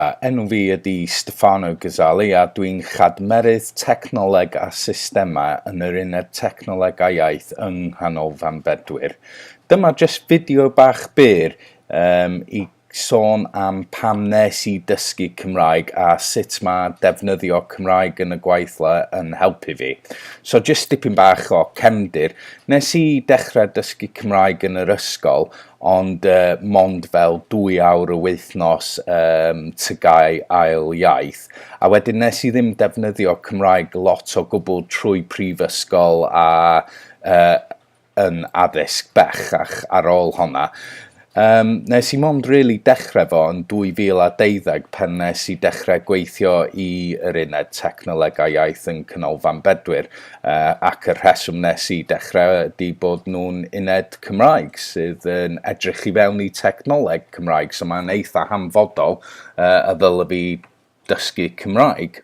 A, Enw fi ydi Stefano Gazzali a dwi'n Chadmerydd Technoleg a Systemau yn yr Uned Technoleg a Iaith yng Nghanolfan Bedwyr. Dyma jyst fideo bach byr um, i sôn am pam nes i dysgu Cymraeg a sut mae defnyddio Cymraeg yn y gweithle yn helpu fi. So jyst dipyn bach o cefndir. Nes i dechrau dysgu Cymraeg yn yr ysgol Ond mond fel dwy awr y wythnos ym Tygau ail iaith. A wedyn nes i ddim defnyddio Cymraeg lot o gwbl trwy prifysgol a yn addysg bellach ar ôl honna. Yym nes i mond rili dechre fo yn 2012 pan nes i dechre gweithio i yr Uned Technolegau Iaith yn Canolfan Bedwyr. ac y rheswm nes i dechrau ydi bod nhw'n uned Cymraeg sydd yn edrych i fewn i technoleg Cymraeg, so mae'n eitha hanfodol uh, y ddylai fi dysgu Cymraeg.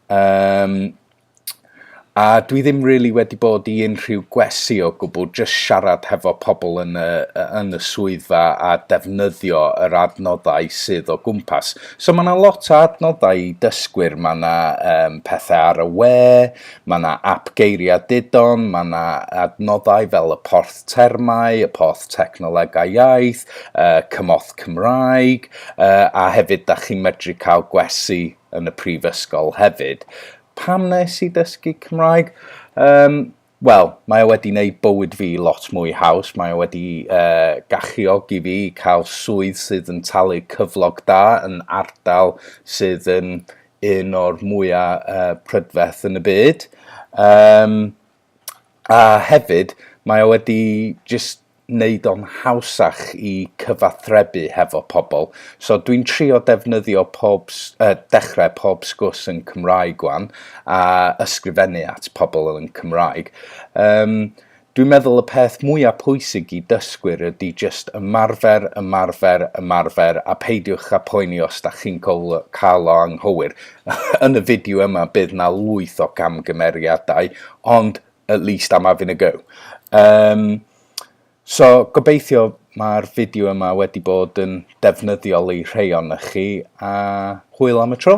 Um, a dwi ddim rili really wedi bod i unrhyw gwesi o gwbl, jyst siarad hefo pobl yn y, yn y swyddfa a defnyddio yr adnoddau sydd o gwmpas. So mae 'na lot o adnoddau i dysgwyr, mae 'na um, pethau ar y we, mae 'na ap geiriau didon, mae 'na adnoddau fel y porth termau, y porth technolegau iaith, uh, cymorth Cymraeg, uh, a hefyd da chi'n medru cael gwesi yn y prifysgol hefyd. Pam nes i dysgu Cymraeg? Um, Wel, mae o wedi wneud bywyd fi lot mwy haws, mae o wedi uh, galluogi fi i cael swydd sydd yn talu cyflog da yn ardal sydd yn un o'r mwyaf uh, prydferth yn y byd. Um, a hefyd, mae o wedi just wneud o'n hawsach i cyfathrebu hefo pobl. So dwi'n trio defnyddio pob, uh, dechrau pob sgwrs yn Cymraeg wan, a ysgrifennu at pobl yn Cymraeg. Um, dwi'n meddwl y peth mwyaf pwysig i dysgwyr ydy just ymarfer, ymarfer, ymarfer, a peidiwch a poeni os da chi'n cael o anghywir. yn y fideo yma bydd na lwyth o gamgymeriadau, ond at least am having a go. Um, so, gobeithio mae'r fideo yma wedi bod yn defnyddiol i rhai o'na chi, a hwyl am y tro.